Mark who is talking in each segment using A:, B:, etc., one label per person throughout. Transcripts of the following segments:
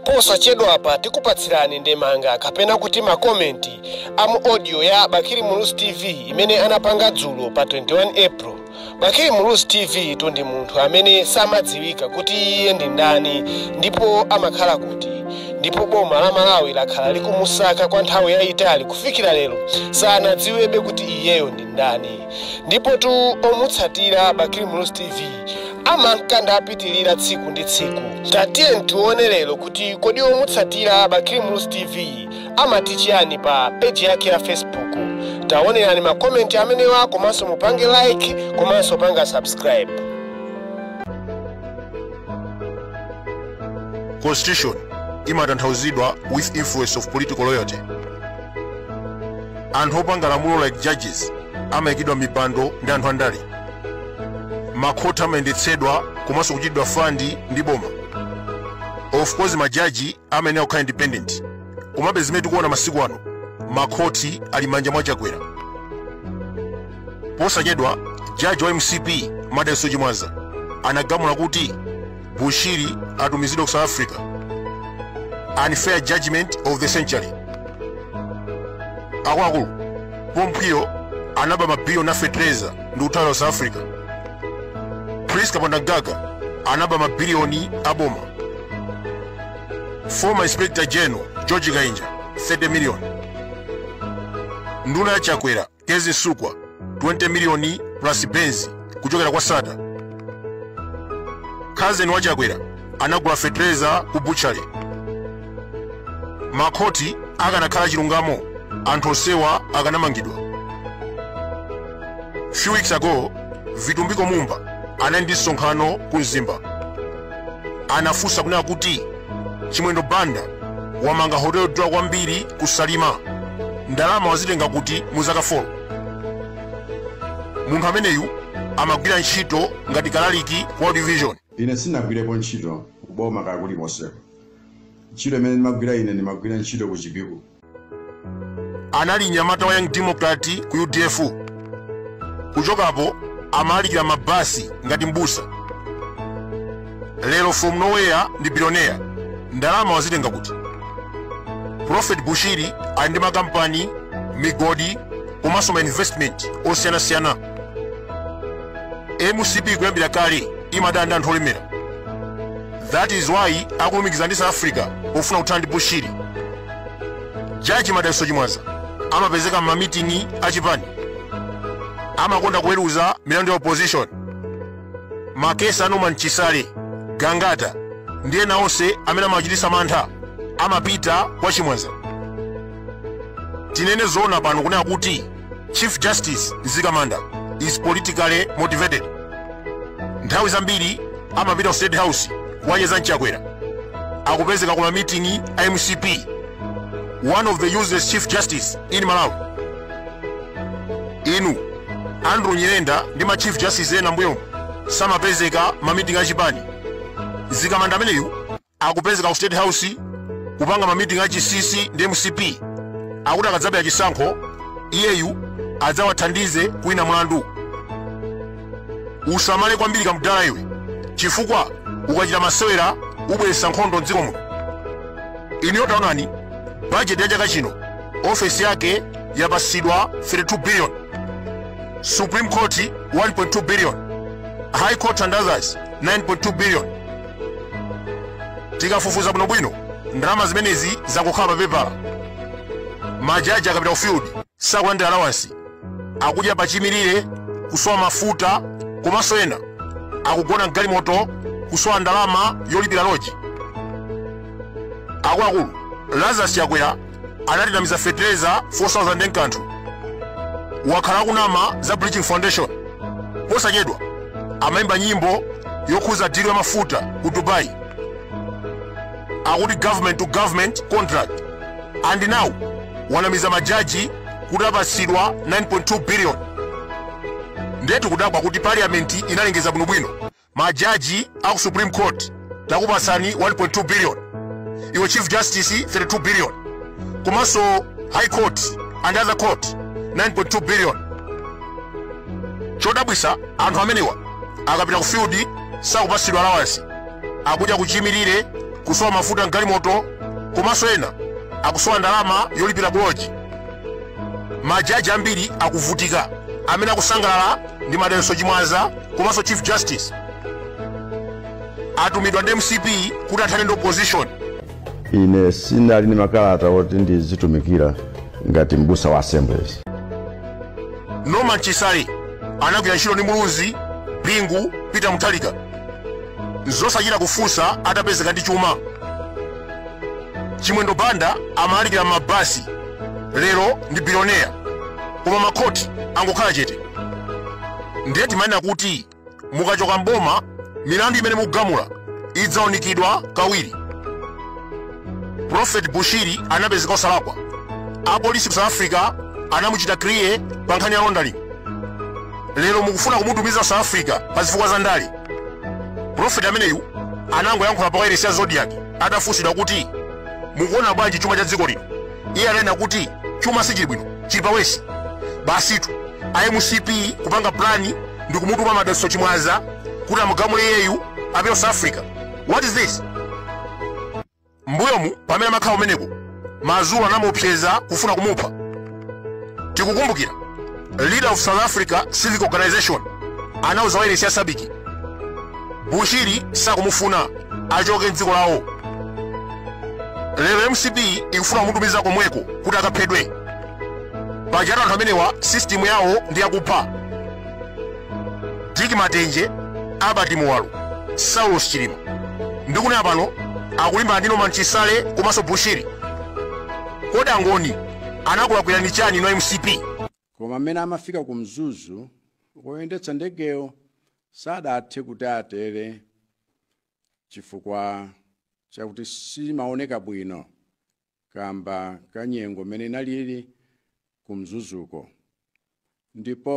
A: posachedwapa tikupatsirani ndemanga kapena kuti makomenti a mu audio ya bakili muluzi tv imene anapanga dzulo pa 21 april bakili muluzi tv tu ndi munthu amene samadziwika kuti iye ndi ndani ndipo amakhala kuti ndipo boma la malawi lakhala likumusaka kwa nthawi yayitali kufikira lero sanadziwebe kuti iyeyo ndi ndani ndipotu omutsatira bakili muluzi tv amanka ndapitirira tsiku ndi tsiku tatiye tione lero kuti kodi omutsatira bakili muluzi tv amati chiyani pa peji yake ya facebook taonerani makomenti amenewa komanso mupange like komanso panga subscribe
B: constitution imatanthauzidwa with influence of political loyalty anthu opanga lamulo like judges amayikidwa mipando ndi anthu andale makhoti amayendetsedwa komanso kuchitidwa fandi ndi boma of course majaji amayenera kukhala independent komabe zimene tikuona masiku ano makhoti ali m'manja mwa chakwera posachedwa jaji wa mcp madalitso chimwaza anagamula kuti bushiri atumizidwa ku south africa unfair judgment of the century akuluakulu paul mphwiyo anaba mabiliyoni afetereza ndi kuthawira south africa prince kapondamgaga anaba mabiliyoni aboma former inspector general george kainja 30 million nduna ya chakwera Kezzie Msukwa 20 miliyoni plus Benz kuchokera kwa Sattar. Cousin wa Chakwera anagula fetereza ku butchery. Makhoti akanakhala chilungamo anthu onsewa akanamangidwa. Few weeks ago, Vitumbiko Mumba anali ndi msonkhano ku Mzimba. Anafunsa kunena kuti chimwendo banda wamanga hotel yodula kwambiri ku salima ndalama wazitenga kuti mu zaka 4 munthu ameneyu amagwira ntchito ngati kalaliki ku world vision ine
C: sinagwirepo ntchito kuboma kaya kulikonseko ntchito imene ndimagwira ine ndimagwira ntchito ku chipiku
B: anali mnyamata wa young democrat ku udf kuchokapo amalalikira m'mabasi ngati mbusa lero from nowhere ndi bilionea ndalama wazitenga kuti prophet bushiri ali ndi makampani migodi komanso ma investment osiyanasiyana mcp kuyambira kale imadana ndi anthu olemera that is why akulumikiza ndi south africa pofuna kuthana ndi bushiri jaji madalitso chimwaza amapezeka m'mamiting'i achipani amakonda kuweruza milandu ya opposition makesi a norman chisale gangata ndi ena onse amene amachititsa mantha amapita kwa chimwaza tinene zoona pano kunena kuti Chief Justice Nzikamanda is politically motivated. Nthawi zambiri amapita ku State House kukacheza ndi Chakwera akupezeka ku mamitingi a mcp one of the useless chief justice in malawi inu andrew nyirenda ndi ma chief justice ena mbuyomu samapezeka mamitingi a chipani Nzikamanda ameneyu akupezeka ku state house kupanga ma meeting a chisisi ndi mcp akuti akadzabera chisankho iyeyu adzawathandize kuwina mlandu usamale kwambiri kamdala iwe chifukwa ukachita masewera ubweretsa nkhondo mdziko muno inuyo taonani bajeti ya chaka chino ofesi yake yapatsidwa 32 billion supreme court 1.2 billion high court and others 9.2 billion tikafufuza bwinobwino ndalama zimenezi zangokhala papepala majaji akapita ku field sakulandira alawansi akudya pachimirire kusowa mafuta komanso ena akugona mgalimoto kusowa ndalama yolipira loji akuluakulu lazarus chakwera anatinamiza fetereza 4000 nkanthu wakhala akunama za bridging foundation posachedwa amayimba nyimbo yokhuza dilu ya mafuta ku dubai akuti government to government contract and now wanamiza majaji kuti apatsidwa 9.2 billion ndetu kudabwa kuti parliament inalengeza bwinobwino majaji aku supreme court takupatsani 1.2 billion iwe chief justice 32 billion komanso high court and other court 9.2 billion chodabwisa anthu amenewa akapita ku field sakupatsidwa allowance akudya kuchimirire kusowa mafuta mgalimoto komanso ena akusowa ndalama yolipira pa loji majaji ambiri akuvutika amene akusangalala ndi madalitso chimwaza komanso chief justice atumidwa ndi mcp kuti athane ndi opposition
C: ine zinali ndi makalata oti ndizitumikira ngati mbusa wa assemblies
B: norman chisale anagwira ntchito ndi muluzi bingu peter muthalika nzosachita kufunsa atapezeka ndi chuma chimwendo banda amalalikira m'mabasi lero ndi biliyoneya koma makhoti angokhala chete ndiye timanena kuti mukachoka mboma milandu imene mukugamula idzaunikidwa kawiri prophet bushiri anapezeka osalakwa apolisi ku south africa anamuchita kriye pa nkhani ya laundering lero mukufuna kumutumiza ku south africa pa zifukwa za ndale prophet ameneyu anangoyankhula pa wailesi ya zodiak atafunsidwa kuti mukuona bwanji chuma cha dziko lino iye ananena kuti chuma sichili bwino chili pa worse basitu a mcp kupanga plani ndi kumutuma madalitso chimwaza kuti amugamule iyeyu apite south africa what is this mbuyomu pamene amakhala kumeneko mazulu anamuopseza kufuna kumupha tikukumbukira leader of south africa civic organization anauza wailesi ya sabc bushiri sakumufuna achoke mdziko lawo lero mcp ikufuna kumutumiza komweko kuti akaphedwe pajatu anthu amenewa sistimu yawo ndi yakupha dick matenje albert muwalo saulos chilima ndikunena pano akulimbana ndi norman chisale komanso bushiri kodi angoni anakulakwirani chani inu a mcp koma mmene
D: amafika ku mzuzu woyendetsa ndegeyo Sadathe kuti atere chifukwa chakuti simaoneka bwino kamba ka nyengo m'mene inalili ku Mzuzuko ndipo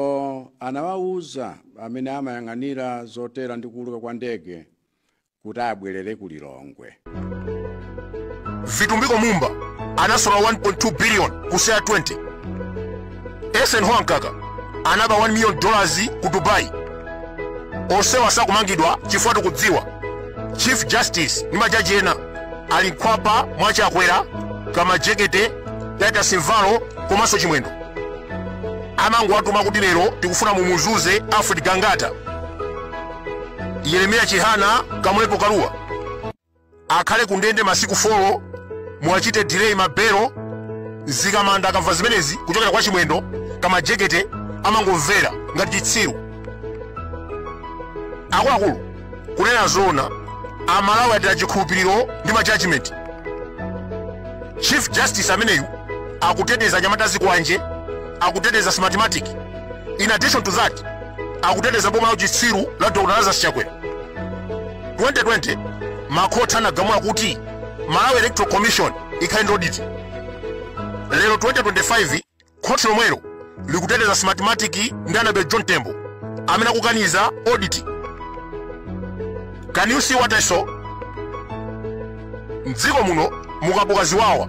D: anawauza amene amayang'anira zotera ndi kuuluka kwa ndege kuti abwerere ku
B: Lilongwe. Vitumbiko Mumba anasola 1.2 billion ku CEAR 20. Eisenhower Mkaka anaba 1 million dollars ku Dubai. Onsewa sakumangidwa chifukwa tikudziwa Chief Justice ndi majaji ena ali m'khwapa mwa Chakwera, Kamajekete, Titus Mvalo komanso Chimwendo. Amangowatuma kuti lero tikufuna mumuzuze Alfred Gangata. yeremiya chihana kamlepo kalua akhale ku ndende masiku 4 muwachite delay mabelo mzikamanda akamva zimenezi kuchokera kwa chimwendo kamajekete amangomvera ngati chitsiru akuluakulu kunena zoona amalawi ataya chikhulupiriro ndi majudgment chief justice ameneyu akuteteza anyamata a zikwanje akuteteza smartmatic in addition to that akuteteza boma la uchitsiru la dr lazarus chakwera 2020 makhoti anagamula kuti malawi electoral commission ikhale ndi audit lero 2025 khoti lomwelo likuteteza smartmatic ndi anabel john mtembo amene akukaniza audit can you see what i saw mdziko muno mukabuka ziwawa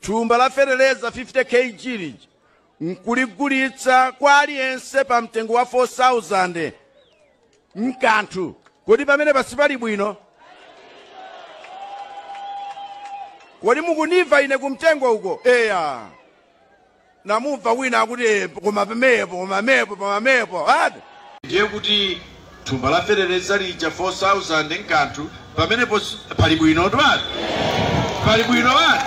D: Thumba la feteleza 50 KG lija n'kuligulitsa kwa aliyense pa mtengo wa 4,000 m'kanthu. Kodi pamenepa sipali bwino? Kodi mukundimva ine kumtengo uko? Eya. ndamumva wina akuti "Eh, koma pamenepo koma mepo koma mepo ati ndiye kuti thumba la feteleza lija 4000 m'kanthu pamenepo si- pali bwino twati pali bwino wati